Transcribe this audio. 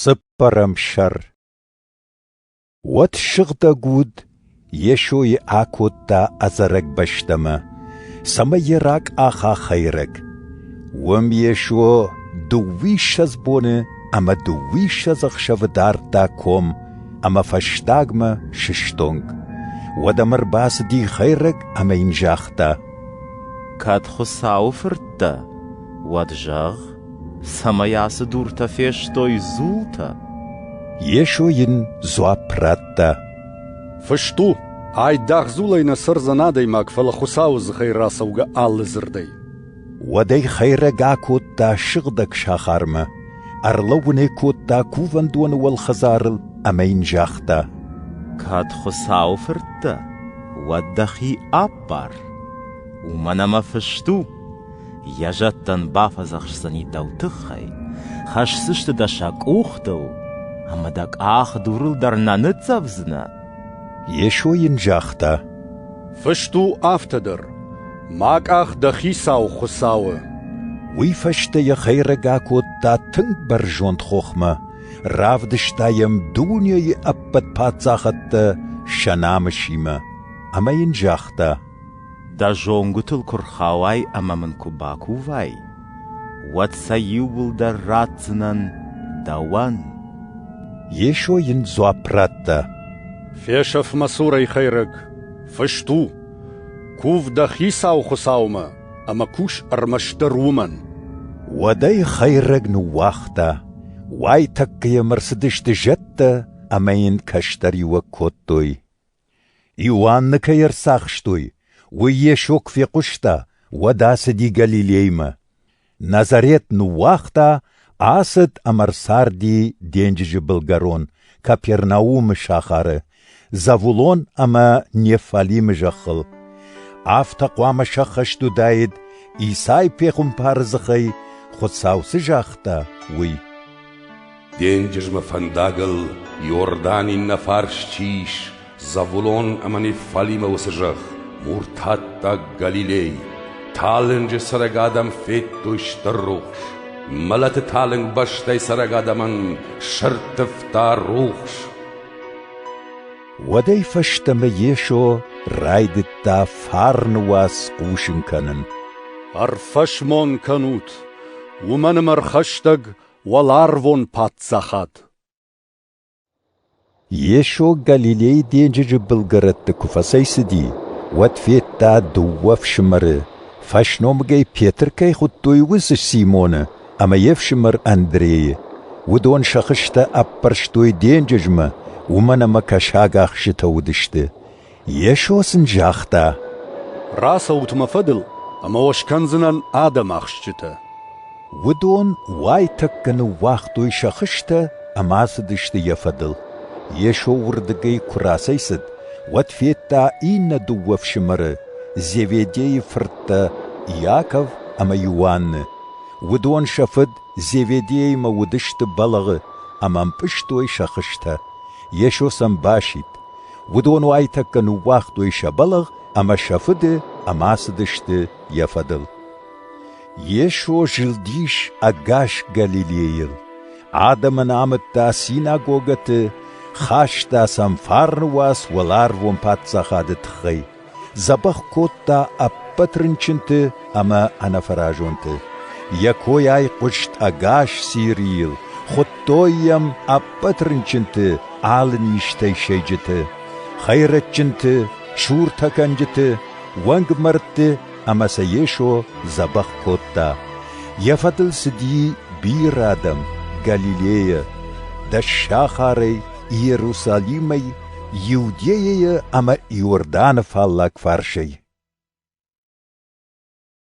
Цыппӕрӕм сӕр Уӕд сыгъдӕг уд Йесойы акодта ӕдзӕрӕг бӕстӕмӕ, цӕмӕй йӕ ракъаха хӕйрӕг. Уым Йесо дыууиссӕдз боны ӕмӕ дыууиссӕдз ӕхсӕвы дардта ком ӕмӕ фӕстагмӕ сыстонг. Уӕдӕ ӕм ӕрбацыди хӕйрӕг ӕмӕ йын загъта: «Кӕд Хуыцауы Фырт дӕ, Уӕд зӕгъ, цӕмӕй ацы дуртӕ фестой дзултӕ? Йесо йын дзуапп радта. Фыст у, айдагъ дзулӕй нӕ цӕрдзӕн адӕймаг, фӕлӕ Хуыцауы дзыхӕй рацӕугӕ алы дзырдӕй. Уӕдӕй хӕйрӕг акодта сыгъдӕг сахармӕ, ӕрлӕууын ӕй кодта кувӕндоны уӕлхӕдзарыл ӕмӕ йын загъта: Кӕд Хуыцауы фырт дӕ, уӕд дӕхи аппар. Уымӕн ӕмӕ фыст у: Йӕ зӕдтӕн бафӕдзӕхсдзӕни дӕу тыххӕй, хӕсдзысты дӕ сӕ къухтыл, ӕмӕ дӕ къах дурыл дӕр нӕ ныццӕвдзынӕ. Йесо йын загъта: Фыст у афтӕ дӕр: Мӕ къах дӕ Хицау Хуыцау у. Уый фӕстӕ йӕ хӕйрӕг акодта тынг бӕрзонд хохмӕ, равдыста йӕм дунейы ӕппӕт паддзахадтӕ сӕ намысимӕ ӕмӕ йын загъта: Дӕ зонгуытыл куы рхауай ӕмӕ мын куы бакувай, уӕд сӕ иууылдӕр ратдзынӕн дӕуӕн. Йесо йын дзуапп радта. «Фесӕф мӕ цурӕй хӕйрӕг, фыст у: «Кув дӕ Хицау Хуыцаумӕ ӕмӕ кус ӕрмӕстдӕр уымӕн». Уӕдӕй хӕйрӕг ныууагъта. Уайтӕккӕ йӕм ӕрцыдысты зӕдтӕ ӕмӕ йын кӕстӕриуӕг кодтой. Иоанны кӕй ӕрцахстой, уый Йесо куы фехъуыста, уӕд ацыди Галилеймӕ. Назарет ныууагъта, ацыд ӕмӕ ӕрцарди денджызы былгӕрон Капернаумы сахары, Завулон ӕмӕ Нефалимы зӕххыл. Афтӕ хъуамӕ сӕххӕст уыдаид, Исай пехуымпары дзыхӕй Хуыцау цы загъта, уый. денджызмӕ фӕндагыл Иордан иннӕ фарс чи ис, Завулон ӕмӕ Неффалимӕ уыцы зӕхх, муртаттаг Галилей. Талынджы цӕрӕг адӕм федтой стыр рухс. Мӕлӕты талынг бӕстӕй цӕрӕг адӕмӕн сӕрттывта рухс. Уӕдӕй фӕстӕмӕ Йесо райдыдта фарны уац хъусын кӕнын. Ӕрфӕсмон кӕнут, уымӕн ӕмӕ ӕрхӕстӕг уӕларвон паддзахад. Йесо Галилейы денджызы былгӕрӕтты куы фӕцӕйцыди, уӕд федта дыууӕ фсымӕры, фӕсномыгӕй Петр кӕй хуыдтой, уыцы Симоны ӕмӕ йе фсымӕр Андрейы. Уыдон сӕ хызтӕ ӕппӕрстой денджызмӕ, уымӕн ӕмӕ кӕсаг ӕхсытӕ уыдысты. Йесо сын загъта: «Рацӕут мӕ фӕдыл, ӕмӕ уӕ скӕндзынӕн адӕм ахсджытӕ». Уыдон уайтӕккӕ ныууагътой сӕ хызтӕ ӕмӕ ацыдысты йӕ фӕдыл. Йесо уырдыгӕй куы рацӕйцыд, уӕд федта иннӕ дыууӕ фсымӕры Зеведейы фырттӕ Иаков ӕмӕ Иоанны. Уыдон сӕ фыд Зеведеимӕ уыдысты бӕлӕгъы ӕмӕ ӕмпъызтой сӕ хызтӕ. Йесо сӕм басидт. Уыдон уайтӕккӕ ныууагътой сӕ бӕлӕгъ ӕмӕ сӕ фыды ӕмӕцыдысты йӕ фӕдыл. Йесо зылдис ӕгас Галилейыл, адӕмӕн амыдта синагогӕты, хаста сӕм фарны уац уӕларвон Паддзахады тыххӕй. Дзӕбӕх кодта ӕппӕт рынчынты ӕмӕ ӕнӕфӕразонты. Йӕ койӕй хъуыст ӕгас Сирийыл, хуыдтой йӕм ӕппӕт рынчынты алы низтӕй сӕйджыты, хӕйрӕджджынты, суртӕкӕнджыты, уӕнгмӕрдты ӕмӕ сӕ Йесо дзӕбӕх кодта. Йӕ фӕдыл цыди бирӕ адӕм Галилейӕ, дӕс сахарӕй Иерусалимӕй Иудейӕйы ӕмӕ Иорданы фаллаг фарсӕй.